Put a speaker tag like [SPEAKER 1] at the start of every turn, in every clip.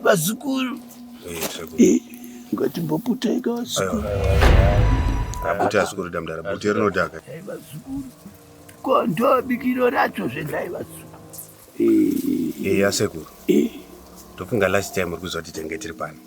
[SPEAKER 1] vazukuru eh, ngatimboputaika vazukuru
[SPEAKER 2] abuti azukuru damdara buti rinodaka eh, vazukuru
[SPEAKER 1] ko ndobikiro racho zvendai vazukuru eya eh, sekuru
[SPEAKER 2] ndofunga last time uri kuziva kuti tenge tiri pano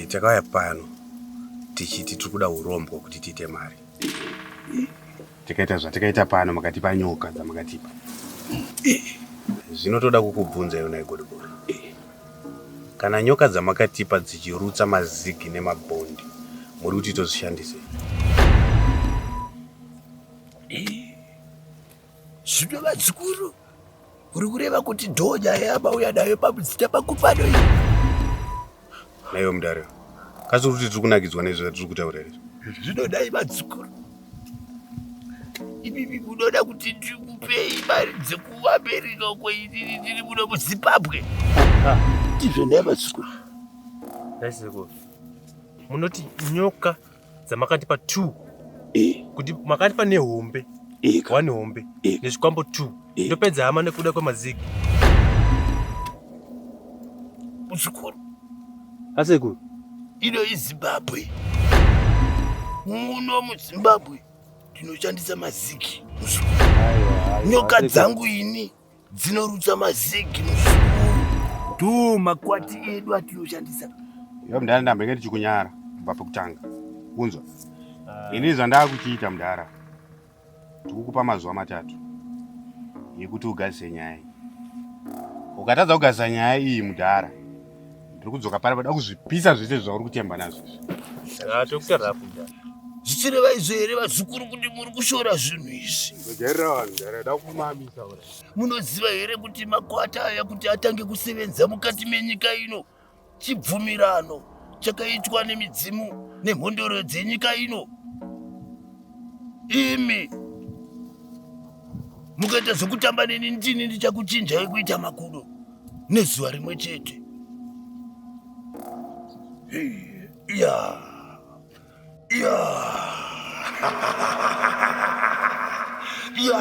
[SPEAKER 2] takauya pano tichiti tiri kuda urombwa kuti tiite mari tikaita zvatikaita pano makatipa nyoka dzamakatipa zvinotoda kukubvunza yona igodobori kana nyoka dzamakatipa dzichirutsa mazigi nemabhondi muri kuti tozvishandise
[SPEAKER 1] zvino vadzikuru Uri kureva kuti dhoja yabauya nayo pamudzita pakupano iyi.
[SPEAKER 2] Naiwe mudare. Kasi uri kuti tiri kunakidzwa nezvo tiri kutaura izvi. Zvinodai vadzukuru.
[SPEAKER 1] Ibibi munoda kuti ndikupei mari dzekuAmerica uko inini ndiri muno muZimbabwe. Ndizvo nai vadzukuru.
[SPEAKER 3] Naisekuru. Munoti nyoka dzamakatipa two eh. kuti makatipa nehombe eh, one hombe eh. nezvikwambo two ndopedza hama nekuda kwemazigi
[SPEAKER 1] muzukuru
[SPEAKER 3] asekuru ino
[SPEAKER 1] izimbabwe muno muzimbabwe ndinoshandisa maziki nyoka dzangu ini dzinorutsa mazigi do makwati edu atinoshandisa iyo mdara
[SPEAKER 2] ndambe ngati chikunyara kubva pekutanga kunzwa ah. ini zvandaa kuchiita mdara tikukupa mazuva matatu yekuti ugarise nyaya ukatadza kugaisa nyaya iyi mudhara Ndiri kudzoka pari pada kuzvipisa zvese zvauri kutemba nazvo izvi. Ah, tokuita
[SPEAKER 3] rafu nda. Zvichireva izvo
[SPEAKER 1] here vazukuru kuti muri kushora zvinhu izvi? Ndojairira vanhu ndara ndada
[SPEAKER 2] kumamisa ora. Munoziva here
[SPEAKER 1] kuti makwata aya kuti atange kusevenza mukati menyika ino chibvumirano chakaitwa nemidzimu nemhondoro dzenyika ino? Imi mukaita zvekutamba neni ndini ndichakuchinjai kuita makudo. nezuva rimwe chete ya ya ya